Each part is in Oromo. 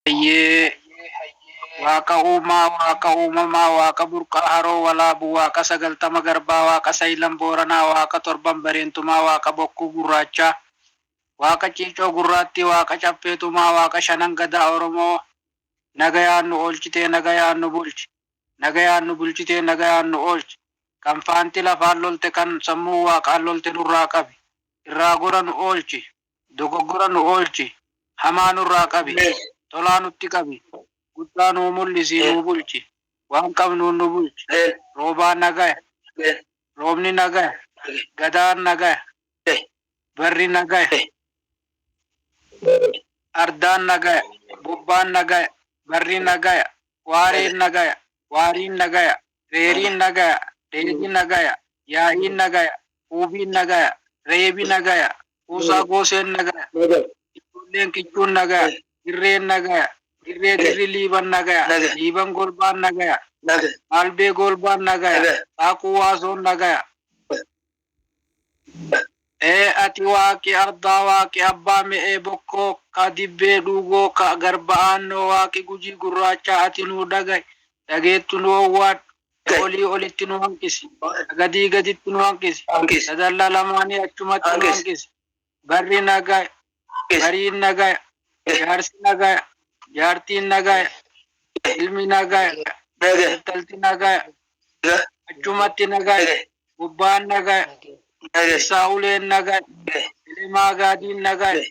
Hayyee Waaqa uumaa Waaqa uumamaa Waaqa burqaa haroo walaabu Waaqa sagaltama garbaa Waaqa sayilan booranaa Waaqa torban bareentumaa Waaqa bokkuu gurraachaa Waaqa ciicoo gurraattii Waaqa caffee tumaa Waaqa shanan gadaa oromoo Nagayaan nu oolchitee nagayaan nu bulchi Nagayaan nu bulchitee nagayaan nu oolchi Kan faanti lafaan lolte kan sammuun waaqaan lolte nurraa qabi Irraa gora nu oolchi Dogoggora nu oolchi, hamaa nurraa qabi, tolaa nutti qabi, guddaa nuu mul'isii nuu bulchi, waan qabnuun nu bulchi, roobaa nagaya, roobni nagaya, gadaan nagaya, barri nagaya, ardaan nagaya, bobbaan nagaya, barri nagaya, waareen nagaya, waariin nagaya, reeriin nagaya, dheedhi nagaya, yaa'iin nagaya, huubiin nagaya, reebi nagaya, kuusaa gooseen nagaya, ijoolleen kichuun nagaya, dirreen nagaya, dirree dirri liiban nagaya, liiban golbaan nagaya, aalbee goolbaan nagaya, xaaquu waasoon nagaya, Ee ati Waaqi ardaa, Waaqi abbaa me'ee bokkoo, ka dibbee dhuugoo, ka garba aannoo, Waaqi Gujii Gurraachaa ati nuu dhagayi, dhageettu nu owwaadhu, ka olii olitti nu hanqisi, ka gadii gaditti nu hanqisi, ka dallaa lamaanii achumatti nu hanqisi. Barri nagaya, bariin nagaya, jaarsi nagaya, jaartiin nagaya, ilmi nagaya, intalti nagaya, achumatti nagaya, gubbaan nagaya, keessaa uleen nagaya, elemaa gaadiin nagaya,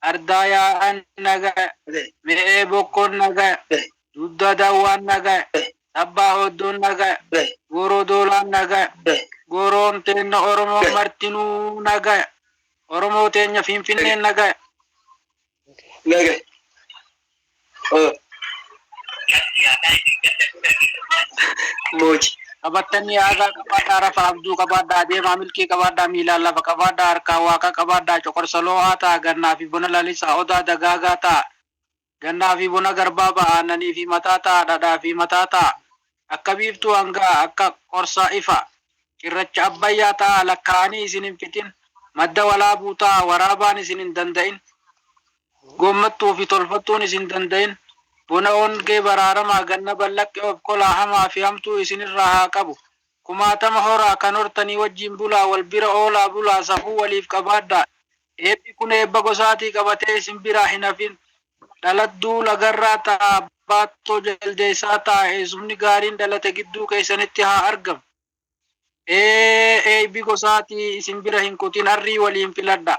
ardaa yaa'an nagaya, me'ee bokkoon nagaya, dudda dawwaan nagaya, Abbaa Oddoon nagaya. Gooroo Doolaan nagaya. Gooroon teenna Oromoon martinuu nagaya. Oromoo teenya Finfinneen nagaya. Nagaya. Mooji. Qabattanii aagaa qabaadhaa rafaa abjuu qabaadhaa deemaa milkii qabaadhaa miilaan lafa qabaadhaa harkaan Waaqaa qabaadhaa coqorsa loo'aa ta'a gannaa fi bona lalisaa odaa dagaagaa ta'a. Gannaa fi bona garbaa ba'a aannanii fi mataa ta'a dhadhaa fi mataa ta'a akka biiftuu hanga'a akka qorsaa ifa cirracha abbayyaa ta'a lakkaa'anii isin hin fixin madda walaabuu ta'a waraabaan isin hin danda'in goommattuu fi tolfattuun isin danda'in bona ongee baraaramaa ganna ballaqqee obkolaa hamaa fi hamtuu isin irraa haa qabu kumaatama horaa kan hortanii wajjiin bulaa wal bira oolaa bulaa safuu waliif qabaadhaa Eebbi kun eebba gosaatii qabatee isin biraa hin hafin. Dhalatduu lagarraa ta baattoo jaldeessaa ta eessumni gaariin dhalate gidduu keessanitti haa argam. Ee eeybi gosaatii isin bira hin kutin arrii waliin filadha.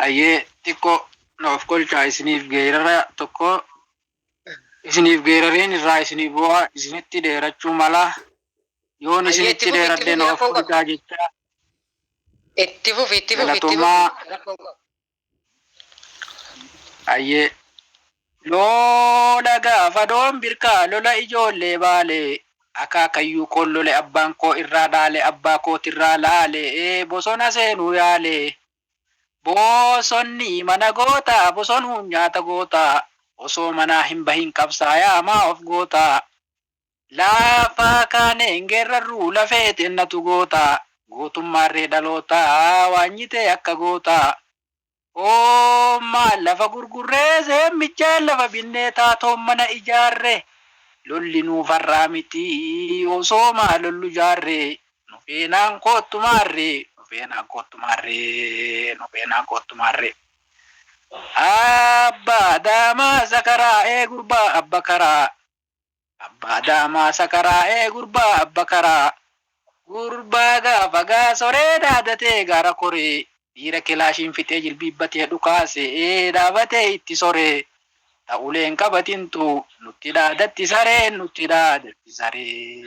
Ayyee xiqqoo na of kolchaa isiniif geerara tokko isiniif geerareen irraa isinii bu'a, isinitti dheerachuu mala. Yoon Hayyee itti isinitti fufi itti dheeradhe fufi na of rakkoon qabu. furidaa jechaa. Itti fufi itti fufi itti Galatoomaa. fufi rakkoon qabu. Hayyee. Loola gaafa doon birkaa lola ijoollee baalee akaakayyuu koon lole abbaan koo irraa dhaale abbaa kootirraa laale bosona seenuu yaale Boosonni mana goota bosonuun nyaata goota osoo manaa hin bahin qabsaayaa maa of goota Lafa kaanee hin geerrarruu lafee teennatu goota Gootummaan ree dhaloota waanyitee akka goota Oommaan lafa gurgurree seemmichaan lafa binnee taatoon mana ijaarre Lolli nuuf har'aa miti osoo maa lollu jaarre Nu feenaan koottu maarree Nu feenaan koottu maarree Nu feenaan koottu maarree Abbaa daamaa sakaraa'ee gurbaa abba karaa Abbaa daamaa sakaraa'ee gurbaa abba karaa Gurbaa gaafa gaasoree dhaadatee gaara koree Dhiira kilaashiin fixee jilbiibbatee dhukaase ee dhaabatee itti soree ta uleen qabatintu nutti dhaadatti sareen nutti dhaadatti saree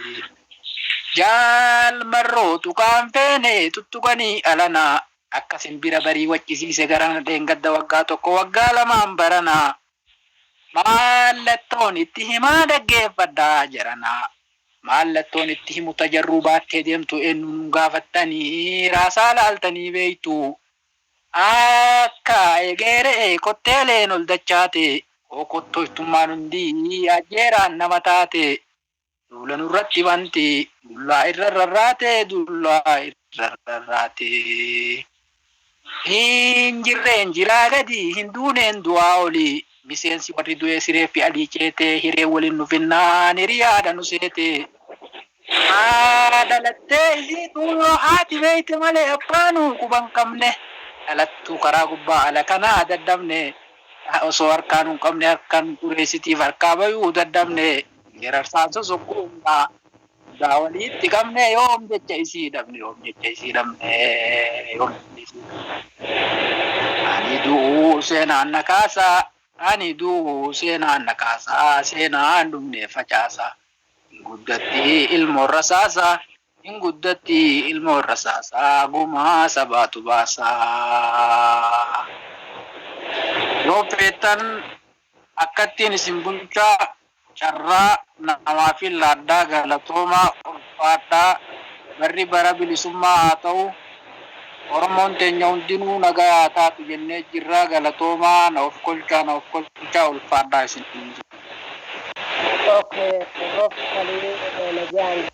Jaal marroo tuqaan feene tuttuqanii alanaa akka sinbira barii waccisiise garana dheengadda waggaa tokko waggaa lamaan baranaa Maallattoon itti himaa dhaggeeffadha jedhana. Maallattoon itti himu ta jarruu baattee deemtu eennu nuun gaafattanii raasaa laaltanii beektuu? Akka egeere'e kotteeleen ol dachaatee. Hoo kottoytummaan hundii ajjeeraan nama taatee. Duula nurratti banti dullaa irra rarraate dullaa irra rarraate. Hin jirreen jiraa gadi hin duuneen du'aa oli miseensi warri du'ee sireeffi alii ceete hiree waliin nu finnaan hiriyaadha nu seete. Haa dhalattee isiitu yoo haati beeyte malee abbaanu quba hin qabne. Dhalattuu karaa gubbaa ala kanaa dadhabne. Osoo harkaa nu hin qabne harkaan ureessitiif harkaa bayuu dadhabne. Geerarsaansos hogguu hundaa hundaa waliitti qabnee yoom jecha isii dhabne yoom jecha isii dhabne yoom jecha isii dhabne. Ani du'uu seenaan na kaasa ani du'uu seenaan na kaasa seenaan dhumnee facaasa. Hin guddatti ilmoon rasaasa hin guddatti ilmoon rasaasa gumaa sabaatu baasa. Yoo feetan Akkattiin isin bulchaa carraa namaafin laadhaa galatoomaa ulfaadhaa barri bara bilisummaa haa ta'u oromoon teenya hundinuu nagaa haa taatu jennee jirraa galatoomaa na ofkolchaa na ofkolchaa ulfaadhaa isiniin jenna. Ok prof kalii nagaan.